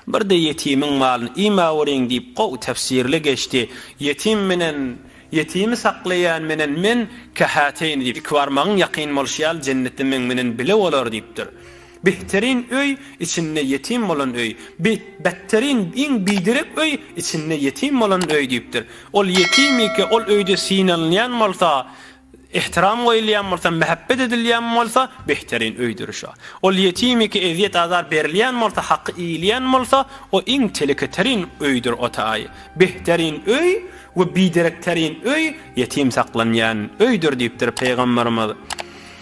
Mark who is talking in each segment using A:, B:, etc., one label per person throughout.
A: Birde ýetimiň malyny ima görýin diýip gowy tefsirli geçdi. Ýetim menen, ýetimi saklaýan menen men kähäteýin diýip, iki barmagyň ýakyn bolşy ýaly jennetde meň menen bile bolar diýipdir. Behterin öý, içinde ýetim bolan öý, bi, betterin, iň biderek öý, içinde ýetim bolan öý diýipdir. Ol ýetimike, ol öýde synalynýan bolsa, ehtiram goýulýan bolsa, mähebbet edilýän bolsa, behterin öýdür şo. Ol ýetimike ezýet-azar berilýän bolsa, haky iýilýän bolsa, o iň teleketerin öýdür o taý. Behterin öý we biderekterin öý, ýetim saklanýan öýdür diýipdir Pygamberimiz.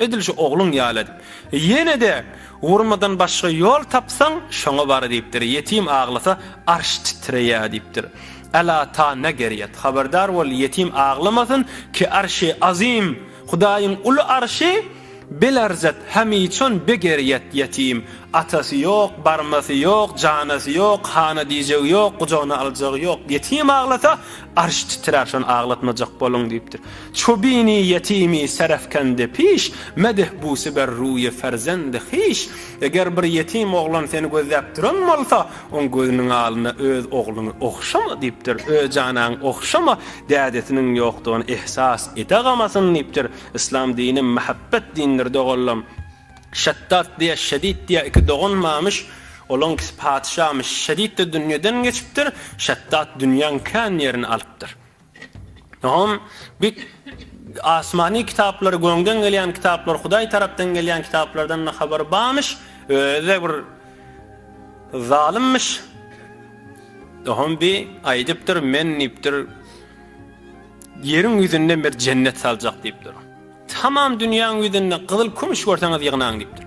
A: Edil şu ogluň ýaly et. Ýene-de urmadan başga ýol tapsaň, şoňa bar, diýipdir. Ýetim aglasa, arş titreýär, diýipdir. Ela ta ne gerýet. Habardar bol, ýetim aglamasyn, ki arşi azim, Hudaýyň uly arşy, belarzat, hamiçon be gerýet, ýetim, atasy ýok, barmasy ýok, janasy ýok, hana diýjegi ýok, gujagyna aljagy ýok. Ýetim aglasa, Arş titrär şony aglatmajak boluň diýipdir. Çu bini ýetimi serefkende piş, Medih busi ber ruýe ferzendi hiş. Eger bir ýetim oglan seni gözläp duran bolsa, oň gözüniň alyna öz ogluňy ogşama diýipdir. Öz janaňy ogşama, dädesiniň ýokdugyny ehsas edagamasyn diýipdir. Yslam dini mähebbet dindir doganlam. Şeddat diýe, Şedit diýe iki dogan barmyş. Olaňkisi patyşamyş. Şedit-de dünýeden geçipdir. Şeddat dünýäň kän ýerini alypdyr. Soň bi asmany kitaplary, gökden gelýän kitaplar, Hudaý tarapdan gelýän kitaplardan-da habary barmyş. Özi-de bir zalymmyş. Soň bi aýdypdyr, Men diýipdir, ýeriň ýüzünden bir jennet saljak diýipdir. Tamam dünýäň ýüzünde gyzyl kümüş görseňiz ýygnaň diýipdir.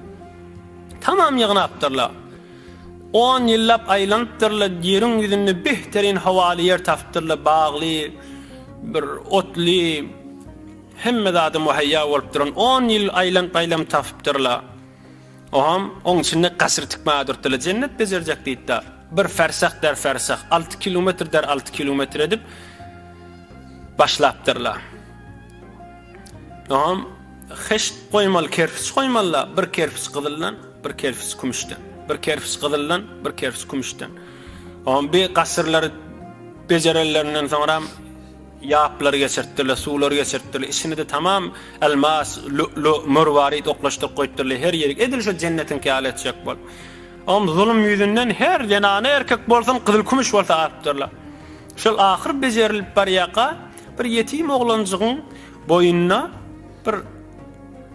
A: Tamam ýygnapdyrlar. On ýyllap aýlanypdyrlar, ýeriň ýüzünde behterin howaly ýer tapypdyrlar, bagly, bir otly, hemme zady muheýýa bolup duran on ýyl aýlanyp-aýlanyp tapypdyrlar. Oňam oň içinde gasyr tikmäge durupdyrlar, jennet bejerjek diýipdir. Bir fersah der fersah, alty kilometr der alty kilometr edip başlapdyrlar. Ynham heşt goýmaly kerpiç goýmalyda bir kerpiç gyzyldan bir kerpiç kümüşden bir kerpiç gyzyldan bir kerpiç kümüşden on bir gasyrlary bejerenlerinden soňra ýaplary geçirtdiler suwlary geçirtdiler içini de tamam elmas lü'lü mürwarit oklaşdyryp goýupdyrlar her ýeri edil şu jennetiň käli etjek bol on zulum ýüzünden her zenana erkek bolsun gyzyl kümüş bolsa alypdyrlar şol ahyr bejerilip barýaka Bir ýetim oglanjygyň boýunda bir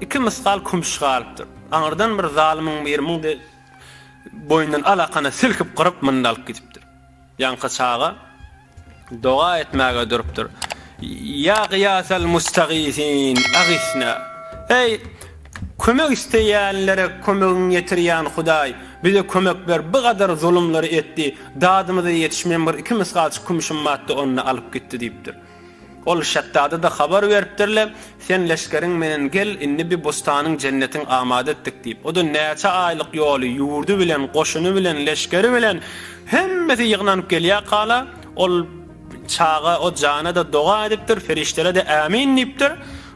A: iki mysgal kümüş galypdyr. Aňyrdan bir zalymyň biri muň de boýundan alakany silkip gyryp munda alyp gidipdir. Ýaňky çaga doga etmäge durupdyr. Ýa gyýasal mustagysyn, agysna! Eý, Kömek isteýänlere kömegiň ýetirýän Hudaý bize kömek ber bu gadar zulumlary etdi dadymyza ýetişmeýän bir iki mysgalçy kümşüm madda ony alyp gitdi diýipdir. Ol şetdada-da habar beripdirle sen leşgeriň menen gel indi bi bustanyň jennetiň amada etdik diýip oda näçe aýlyk ýoly ýurdy bilen goşuny bilen leşgeri bilen hemmesi ýygnanyp gelýä kala ol çaga o jana-da doga edipdir ferişdelede ämin diýipdir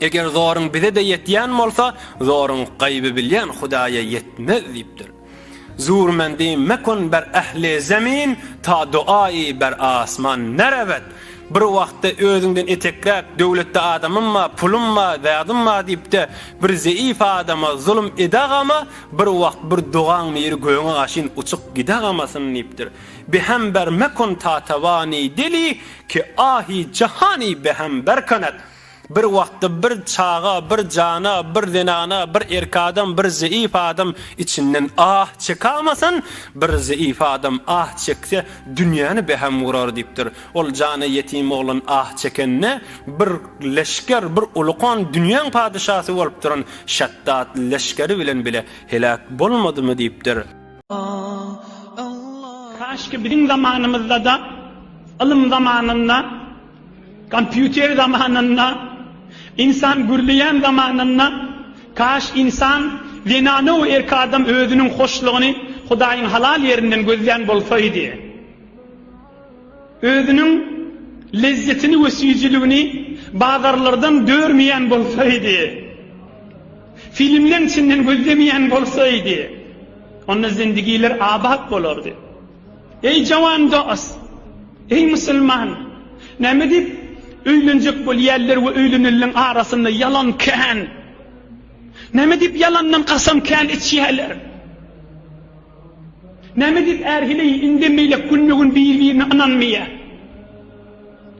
A: Eger zoruň bize-de ýetýän bolsa, zoruň gaýby bilýän Hudaýa ýetmez diýipdir. Zurmendi mekun ber ähli zemin, ta doa-i ber asman nerebet. Bir wagtda özüňden etekräk döwletde adamym bar, pulum bar, zadym bar diýip-de, bir zeýif adama zulum edagama, bir wagt bir dogaň niri göňe gaşyn uçup gidegamasyn diýipdir. Behem ber mekun tatabani deli, ki ahi jahani behem ber kanet. Bir wagtda bir çaga, bir jana, bir zenana, bir erk adam, bir zeýif adam içinden ah çekamasyn, bir zeýif adam ah çekse, dünýäni beham gurar diýipdir. Ol jana ýetim oglan ah çekende, bir leşger, bir ulukan dünýäň padyşasy bolup duran Şetdat leşgeri bilen bile heläk bolmadymy diýipdir.
B: Kaşki biziň zamanymyzda-da, ylym zamanynda Kompýuter zamanynda, ynsan gürleýän zamanynda, kaş ynsan, zenana we erki adam özüniň hoşlugyny Hudaýyň halal ýerinden gözlän bolsaýdy. Özüniň lezzetini we süýjüligini bazarlardan dörmeýän bolsaýdy. Filmleň içinden gözlemeýän bolsaýdy. Onda zindigiler abat bolardy. Eý jawan dos! Eý musulman! Näme diýip öýlenjek bolýarlar we öýlenenleriň arasynda ýalan kän? Näme diýip ýalandan kasam kän içýärler? Näme diýip är heleý indemmeýlek günbe-gün bir-birine ynanmaýar?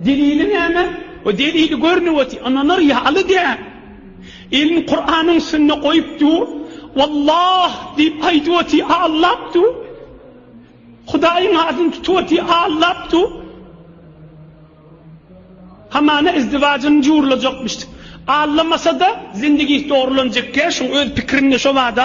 B: Delili näme? We delili görnüp otyr, ynanar ýaly däl. Elini Kuranyň üstünde goýup dur, Wallah diýip aýdyp otyr, aglap dur. Hudaýyň adyny tutup otyr, aglap dur. Hamana izdiwajyny jurlajakmyş. Aglamasada, zindigisi dogrulanjakkä, şuň öz pikirinde şobada.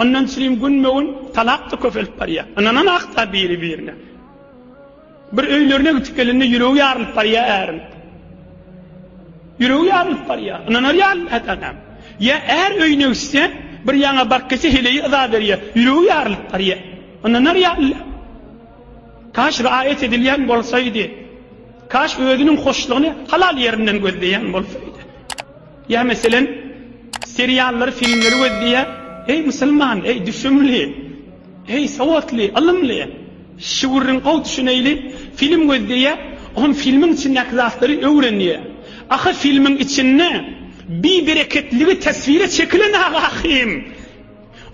B: Ondan çilim günbe-gün talap-da köpelip barýar. Ynanan hakda biri-birine. Bir öýlerine gitip gelende ýüregi ýarylyp barýar äriň. Ýüregi ýarylyp barýar. Ynanar ýaly dälem. Ýa är öýüne gitse, bir ýaňa baryp gelse heleýi yza berýär. Ýüregi ýarylyp barýar. Ynanar ýaly dälem. Kaş raýat edilýän bolsaýdy. Kaş özüniň hoşlugyny halal ýerinden gözleýän bolsaýdy. Ýa meselem, seriallary, filmleri gözleýär, Eý, musulman, eý, düşümli, eý, sowatly, ylymly, şu gürrüň gowy düşüneýli, film gözleýär, oňa filmiň içindäki zatlary öwrenýär. Ahy, filmiň içinde bibereketligi teswire çekilen ahym!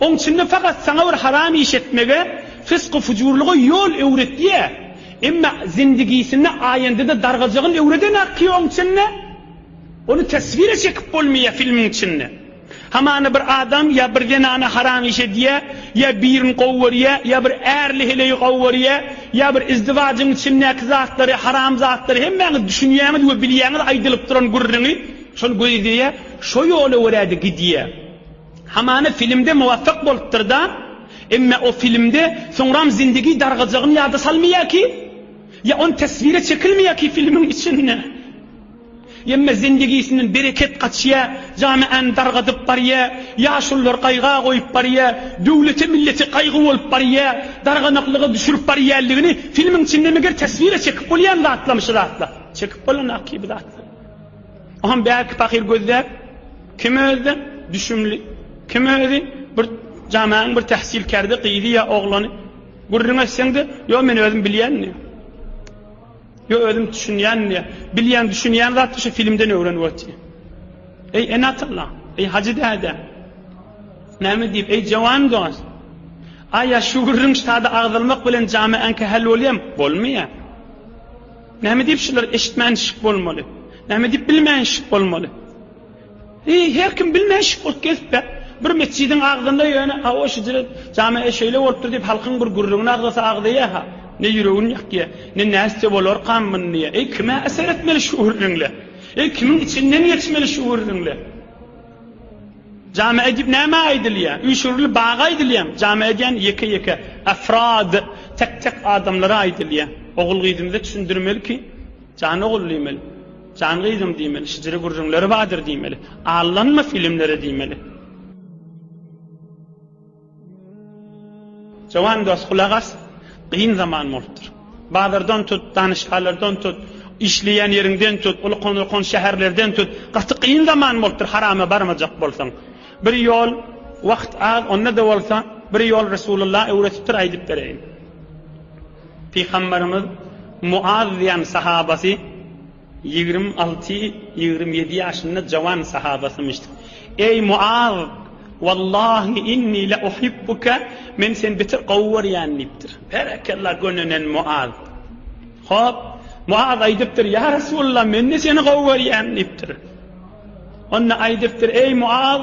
B: Oň içinde fakat saňa bir haram iş etmege, fysgu-fujurlyga ýol öwretýär. Emma zindigisinde aýandyda dargajygyny öwreden ahy oň içinde! Ony teswire çekip bolmaýa filmiň içinde. Hamana bir adam ýa bir zenana haram iş edýä, ýa birin gowy görýä, ýa bir ärli heleýi gowy görýä, ýa bir izdiwajyň içindäki zatlary, haram zatlary hemmäňiz düşünýäňiz we bilýäňiz aýdylyp duran gürrüňi, şony gözleýä, şo ýola görä-de gidýä. Hamana filmde muwafak bolupdyr-da, emme o filmde soňram zindigi dargajagyny ýada salmaýa ki, ýa ony teswire çekilmeýä ki filmiň içinde. Emma zendigisinden bereket gaçýar, jamaany dargadyp barýar, ýaşululary gaýga goýup barýar, döwlete, millete gaýgy bolup barýar, darganaklyga düşürip barýarlygyny filmiň içinde meger teswire çekip bolýan zatlam şu zatlar. Çekip bolanda aky bu zatlar. Oham bärki pahyr gözläp, kim özde, düşümli, kim özi, bir jamaanyň bir tähsilkärde gyzy ýa oglany gürrüň etseňde, ýok men özüm bilýän diýýär. Ýo özüm düşünýän diýýä. Bilýän düşünýän zatdy şu filmden öwren wati. Eý Enatlla, eý Hajy däde. Näme diýip eý jawan dos. Aýa şu gürrüň ştada agzalmak bilen jameaň kähel bolýam, bolmaýa. Näme diýip şular eşitmän şik bolmaly. Näme diýip bilmän şik bolmaly. Eý, her kim bilmän şükürt gezipä, bir metjidiň agzynda ýöne, hawa, şüjre jame-e şeýle bolupdyr diýip, halkyň bir gürrüňini agzasa agzaýa-ha, ne ýüregini ýakýa, ne nätse bolarkam mundyýa. Eý, kime äsär etmeli şu gürrüňle? Eý, kimiň içinden geçmeli şu gürrüňle? Jame-e diýip nämä aýdylýa? Üýşürili baga aýdylýamy? Jame-e diýen ýeke-ýeke, afrad, tek-tek adamlara aýdylýa. Ogul-gyzymyza düşündirmeli ki, jan ogul diýmeli. Jan gyzym diýmeli şijiri gürrüňleri badyr diýmeli allanma filimlere diýmeli. Jowan dos gulak as gyn zaman bolupdyr. Bazardan tut danyşgalardan tut işleýän ýeriňden tut uly konurkon şäherlerden tut gaty gyn zaman bolupdyr harama barmajak bolsaň. Bir ýol wagt az onda da bolsa bir ýol resulullah öwretipdir aýdyp bereýin. Pygamberimiz Muaz diýen sahabasy ýigrimi alty, ýigrimi ýedi ýaşynda jawan sahabasymyşdy. Eý Muaz! Wallahi inni la uhibbuke, men seni beter gowy görýän diýipdir. Berekella gönenen Muaz. Hop, Muaz aýdypdyr, ýa Resulalla men-de seni gowy görýän diýipdir. Onda aýdypdyr, eý Muaz!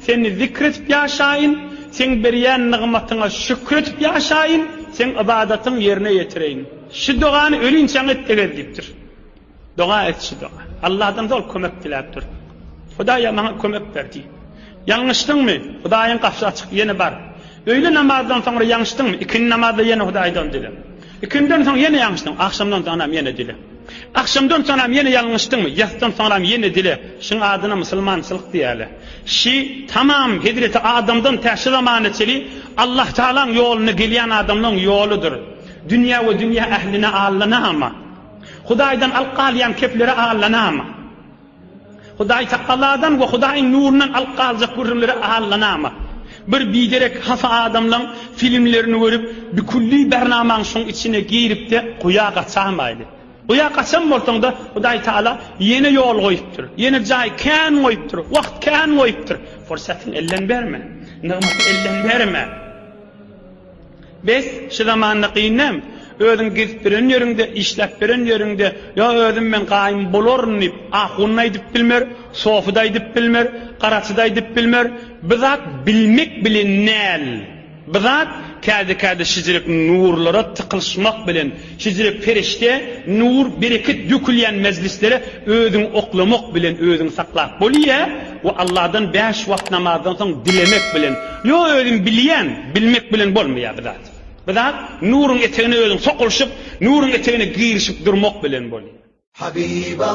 B: Seni zikr edip ýaşaýyn, Seň berýän nygmatyňa şükür edip ýaşaýyn, Seň ybadatyňy ýerine ýetireýin. Şu dogany ölinçäň et degel diýipdir. Doga et şu doga. Allahdan zor kömek diläp dur. Hudaýa maňa kömek ber diý. Ýalňyşdyňmy? Hudaýyň gapysy açyk, ýene bar. Öýle namazdan soňra ýaňşdyňmy? Ikindi namazda ýene Hudaýdan dile. Ikinjiden soň ýene ýalňyşdyň. Agşamdan soňram ýene dile. Agşamdan soňram ýene ýalňyşdyňmy? Ýasydan soňram ýene dile. Şyň adyna musulmançylyk diýäle. Şy, tamam, hezreti Adamdan tä şu zamana çeli Allahtagalaň ýoluna gelýän adamlaň ýoludyr. Dünýä we dünýä ähline allanama. Hudaýdan alyp galýan keplere allanama. Hudaýtagaladan we Hudaýyň nurundan alyp galjak gürrüňlere allanama. Bir biderek hafa adamlaň filmlerini görüp, bikülli bernamaň şoň içine giripde guýa gaçamaýly. Guýa gaçan bolsaňda Hudaýtagala ýene ýol goýupdyr, ýene jaý kän goýupdyr, wagt kän goýupdyr. Pursatyňy elden berme. Nygmaty elden berme. Bes, şu zamanda gyn näm? Özüň gezip biren ýeriňde, işläp biren ýeriňde, Ýa özüm men gaýym bolaryn diýip, ahun-da aýdyp bilmer, sofy-da aýdyp bilmer, garaçy-da aýdyp bilmer. Bu zat bilmek bilen näl? Bu zat käde-käde şejilik nurlara tykylyşmak bilen, Hijret perişde, nur, bereket dökülýän mejlislere özüňi oklamak bilen özüňi saklap bolýa we Allahdan bäş wagt namazdan soň dilemek bilen, ýo özüm bilýän, bilmek bilen bolmaýa bir zat. Bir zat nuryň etegine özüň sokulyşyp, nuryň etegine girişip durmak bilen bolýa. Habiba.